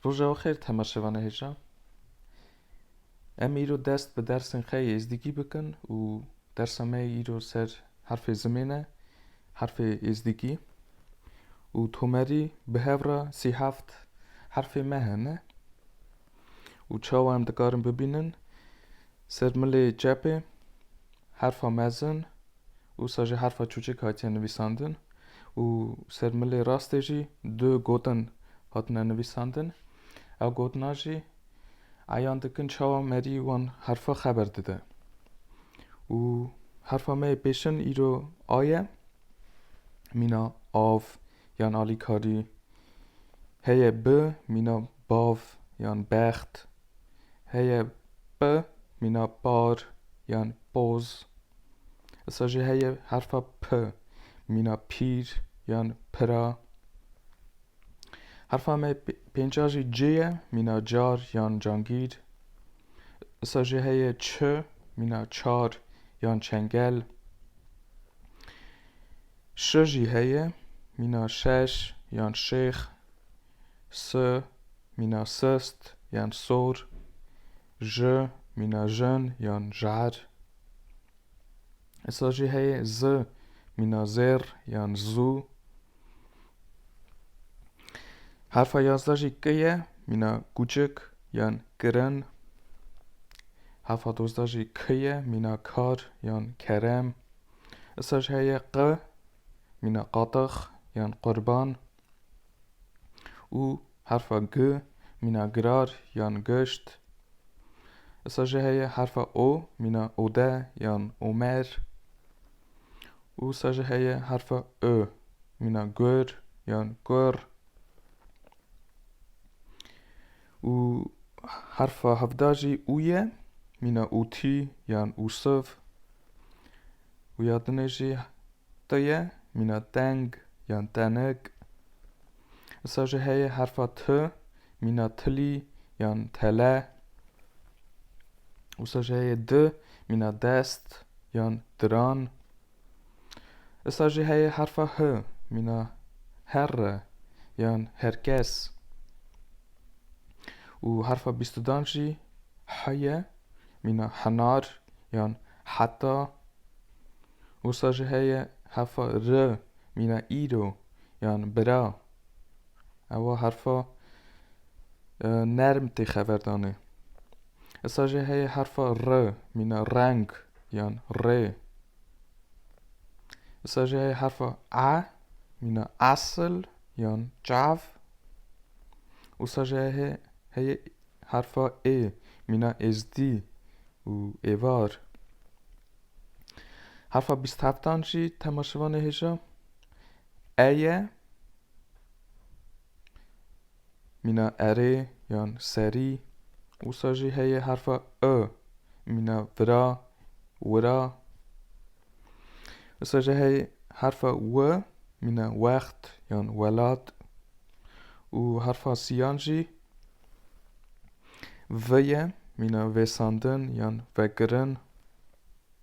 Roja we xêr temaşevana hêja. Em îro dest bi dersên xê êzdîgî bikin û dersa me îro ser herfê zimêne, herfê êzdîgî û tomerî bi hev re sî heft herfê me hene. û çawa em dikarin bibînin, ser milê çepê herfa mezin wisa jî herfa çûçik hatiye nivîsandin û ser milê rastê jî du gotin hatine nivîsandin. Ew gotina jî eyan dikin çawa merî wan herfa xeber dide. Û herfa me yê pêşin îro A ye. Mîna av, yan alîkarî heye bi mîna bav yan bext, heye bi mîna par yan poz. Isa jî heye herfa p mîna pîr yan pira. Herfa me pênca jî c ye mîna car yan cangîr. Isa jî heye ç mîna çar yan çengel. Ş jî heye, mîna şeş yan şêx, s mîna sist yan sor, j mîna jin yan jer. Êsa jî heye, z mîna zêr yan zû. Herfa yazda jî k ye, mîna kûçik yan kirin. Herfa dozda jî k ye, mîna kar yan kerem. Îsa jî heye qe, mîna qatex yan qurban û herfa gi, mîna girar yan gişt. Îsa jî heye herfa o, mîna ode yan omer. Û îsa jî heye herfa ö, mîna gur yan kur. Û herfa hevda jî û ye, mîna ûtî yan ûsiv. Û ya dinê jî te ye, mîna teng yan tenik. Isa jî heye herfa ti, mîna tilî yan tele. Wisa jî heye di, mîna dest yan diran. Issa jî heye herfa h mîna herr e yan herkes û herfa bîstudan jî h ye mîna henar yan heta. Wisa jî heye herfa r mîna îro yan bira. Ewa herfa e, nerm tê xever danê. Esa jê heye herfa r mîna reng yan rê. Esa jê heye herfa e mîna asl yan çav. Usa jê heye heye herfa ê mîna êzdî û êvar. Herfa bîst heftan jî tema şivanê hêja e ye. Mîna erê yan serî, wisa jî heye herfa e, mîna vira, wira. Wisa jî heye herfa we, mîna wext yan welat. Û herfa siyan jî veye, mîna vêsandin yan vekirin.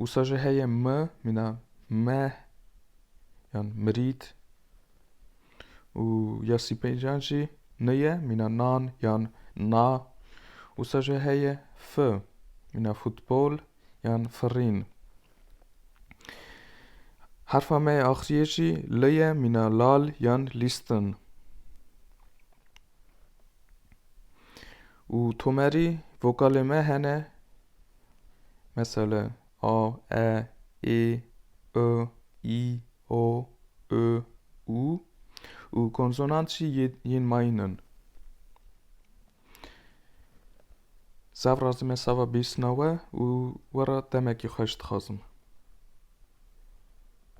Wisa jî heye mi mîna meh yan mirît û ya sîpêncan jî ni ye mîna nan yan na. Wisa jî heye fi mîna futbol yan firîn. Herfa me yê axiriyê jî li ye mîna lal yan lîstin. û tomerî vokalê me hene Mesele, a, e, ê, ı, î, o, ü, û û konsonant jî yên mayîn in. Zav razê me sava bîstina we û we re demekî xweş dixwazim.